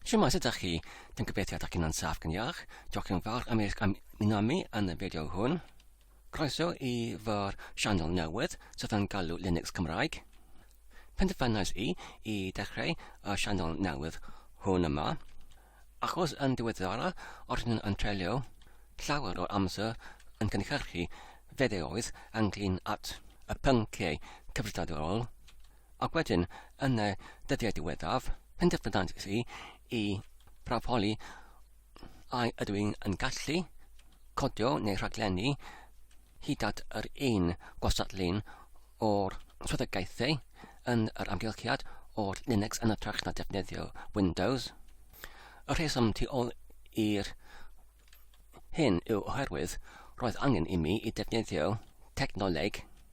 Shwmae, sut ydych chi? Dwi'n gobeithio ydych chi'n ansaf gan iach. Diolch yn fawr am eich ymuno mi yn y fideo hwn. Croeso i fy'r sianel newydd sydd yn galw Linux Cymraeg. Penderfynais i i dechrau y sianel newydd hwn yma, achos yn diweddara rydyn yn treulio llawer o'r amser yn cynhyrchu fideoedd ynglyn at y pynciau cyfrifiadurol Ac wedyn, yn y dyddiau diweddaf, penderfynant i i brafoli a ydw i'n yn gallu codio neu rhaglennu hyd at yr un gwasadlun o'r swyddogaethau yn yr amgylchiad o'r Linux yn ytrach na defnyddio Windows. Y rheswm tu ôl i'r hyn yw oherwydd roedd angen i mi i defnyddio technoleg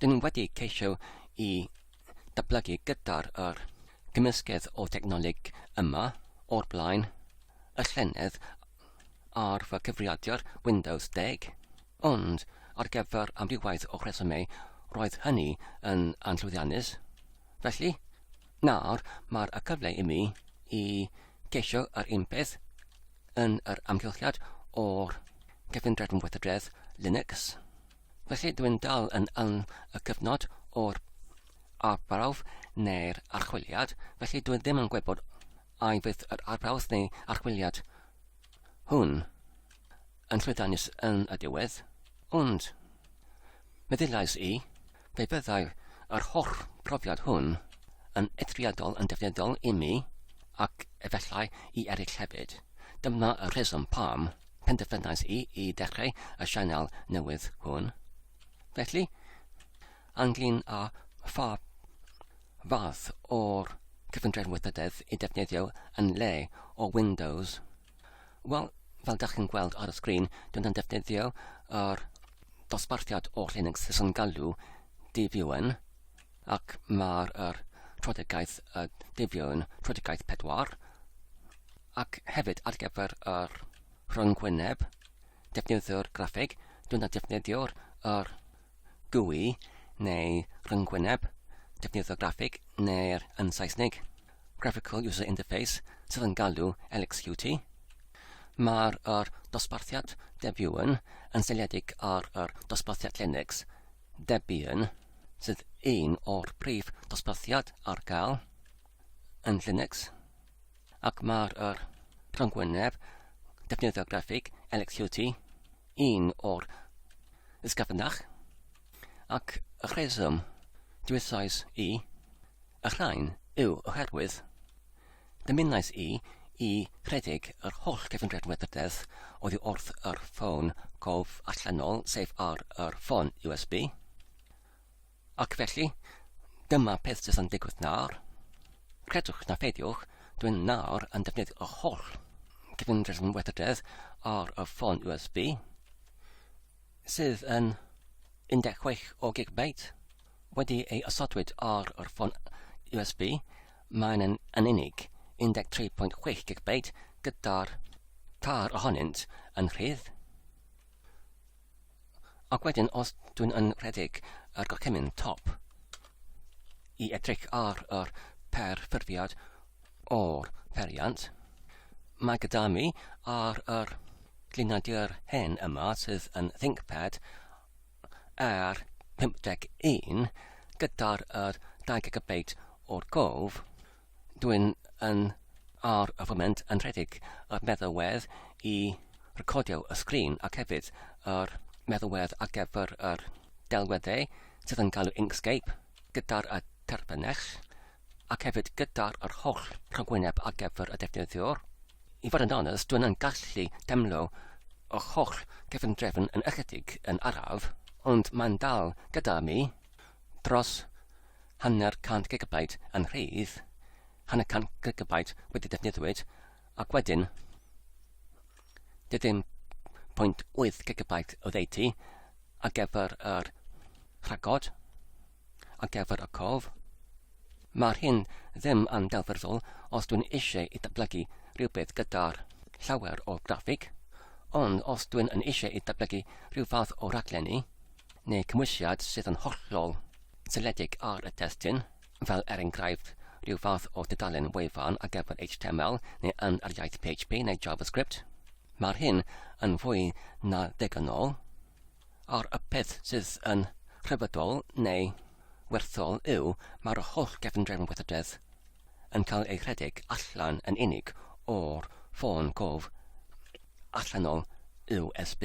Dyn ni wedi ceisio i datblygu gyda'r yr cymysgedd o technoleg yma o'r blaen, y llynedd ar fy cyfrifiadur Windows 10, ond ar gyfer amrywiaeth o rhesymau roedd hynny yn anllwyddiannus. Felly, nawr mae'r y cyfle i mi i ceisio yr un peth yn yr amgylchiad o'r cyfundrefn weithredredd Linux. Felly dwi'n dal yn yn y cyfnod o'r arbrawf neu'r archwiliad, felly dwi ddim yn gwybod ai fydd yr arbrawf neu archwiliad hwn yn llwyddiannus yn y diwedd, ond meddyliais i, fe fyddai yr holl brofiad hwn yn eithriadol yn defnyddiol i mi, ac efallai i eraill hefyd. Dyma y rheswm pam. penderfynais i i dechrau y sianel newydd hwn. Felly, anglyn a pha fath o'r cyfundrefn weithrededd i defnyddio yn le o Windows? Wel, fel dach chi'n gweld ar y sgrin, dwi'n yn defnyddio yr dosbarthiad o Linux sy'n galw DVUN, ac mae'r yr troedigaeth y defion troedigaeth pedwar ac hefyd ar gyfer yr rhyngwyneb defnyddio'r graffeg dwi'n defnyddio'r yr GUI neu rhyngwyneb defnyddio'r graffeg neu'r yn Saesneg Graphical User Interface sydd yn galw LXQT Mae'r yr dosbarthiad defion yn seiliedig ar yr dosbarthiad Linux Debian sydd un o'r prif dosbarthiad ar gael yn Linux ac mae'r er, rhyngwyneb defnyddio graffig LXQT un o'r ysgafnach ac y rheswm diwysais i y rhain yw oherwydd Dymunais i i rhedeg yr holl gefndiad methydedd oddi wrth yr ffôn cof allanol, sef ar yr ffôn USB. Ac felly, dyma peth sydd yn digwydd nawr. Credwch na pheidiwch, dwi'n nawr yn defnyddio yr holl gefndiad methydedd ar y ffôn USB, sydd yn 16 o gigabyte, wedi ei osodwyd ar yr ffôn USB Maen nhw yn unig, 13.6 gigabyte, gyda'r tair ohonynt yn rhydd. Ac wedyn, os dwi'n yn rhedeg yr gorchymyn top, i edrych ar yr perfformiad o'r periant, mae gyda mi ar yr glinadur hen yma sydd yn ThinkPad ar 51 gyda'r yr 2 gigabeit o'r gof, dwi'n yn ar y foment yn rhedeg yr meddalwedd i recordio y sgrin ac hefyd yr meddalwedd ar gyfer yr delweddau sydd yn galw Inkscape. gyda'r y terfynech, ac hefyd gyda'r yr holl rhagwyneb ar gyfer y defnyddiwr. I fod yn onest, dwi'n yn gallu demlo yr holl gefndrefn yn ychydig yn araf, ond mae'n dal gyda mi dros hanner cant gigabyte yn rhydd, hanner cant gigabyte wedi defnyddiwyd, ac wedyn 0.8 gigabyte o ddeutu ar gyfer yr rhagod, ar gyfer y cof. Mae'r hyn ddim yn delfrydol os dwi'n eisiau i datblygu rhywbeth gyda'r llawer o graffig, ond os dwi'n yn eisiau i datblygu rhyw fath o raglenni neu cymwysiad sydd yn hollol seledig ar y testun, fel er enghraifft, rhyw fath o dudalen wefan ar gyfer HTML neu yn yr iaith PHP neu JavaScript. Mae'r hyn yn fwy na degynol, a'r y peth sydd yn rhyfeddol neu werthol yw mae'r holl gefndrefn weithrededd yn cael ei rhedeg allan yn unig o'r ffôn cof allanol USB.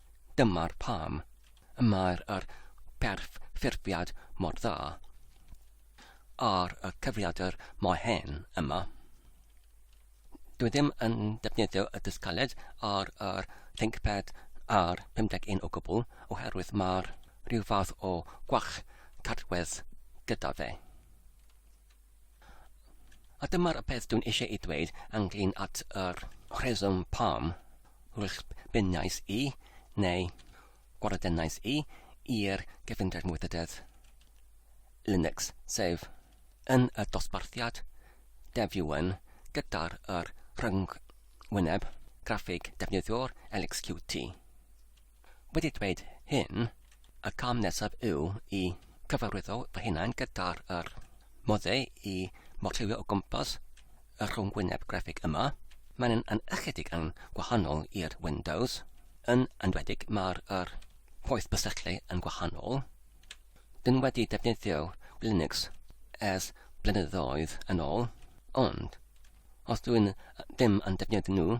Dyma'r pam y mae'r yr perfformiad mor dda ar y cyfrifiadur mae hen yma. Dwi ddim yn defnyddio y dysgaled ar yr ThinkPad ar 51 o gwbl oherwydd mae'r rhyw fath o gwach cadwedd gyda fe. A dyma'r peth dwi'n eisiau ei dweud ynglyn at yr rheswm pam wrthbeniais i, neu gwarddenais i, i'r gyfundrefn weithrededd Linux, sef yn y dosbarthiad dev-un gyda'r rhyngwyneb graffig defnyddiwr LXQT. wedi dweud hyn, y cam nesaf yw i cyfarwyddo fy hunain gyda'r yr modde i morllywio o gwmpas y rhwngwyneb grafig yma. Mae'n yn ychydig yn gwahanol i'r Windows. Yn enwedig mae'r yr poeth bysylltu yn gwahanol. Dyn wedi defnyddio Linux ers blynyddoedd yn ôl, ond os dwi'n ddim yn defnyddio nhw,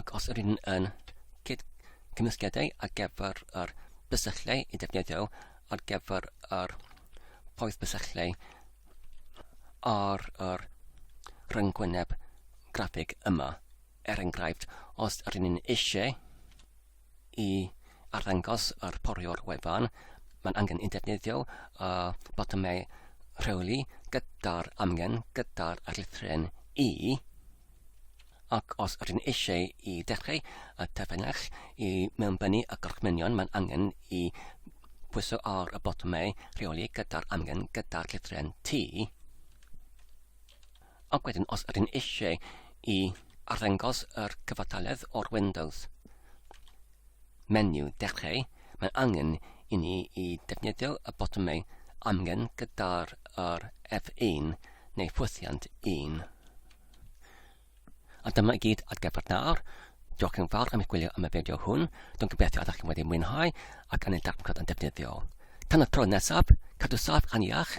Ac os rydyn yn cyd cymysgiadau ar gyfer yr bysylltau i defnyddio ar gyfer yr poeth bysylltau ar yr rhyngwyneb graffig yma. Er enghraifft, os rydyn eisiau I arddangos yr pori o'r wefan, mae'n angen i ddefnyddio y botymau rheoli gyda'r amgen gyda'r llythryn i, ac os rydyn eisiau i ddechrau y terfynach i mewnbynnu y gorchmynion mae'n angen i pwyso ar y botymau rheoli gyda'r amgen gyda'r llythryn T. Ac wedyn os ydyn eisiau i arddangos yr cyfartaledd o'r Windows menu dechrau, mae'n angen i ni i defnyddio y botymau amgen gyda'r yr F1 neu ffwythiant 1. A dyma i gyd ar gyfer nawr. Diolch yn fawr am eich gwylio am y fideo hwn. Dwi'n gobeithio ydych chi wedi mwynhau ac yn ei darllen yn defnyddiol. Tan y tro nesaf, cadw saff yn iach.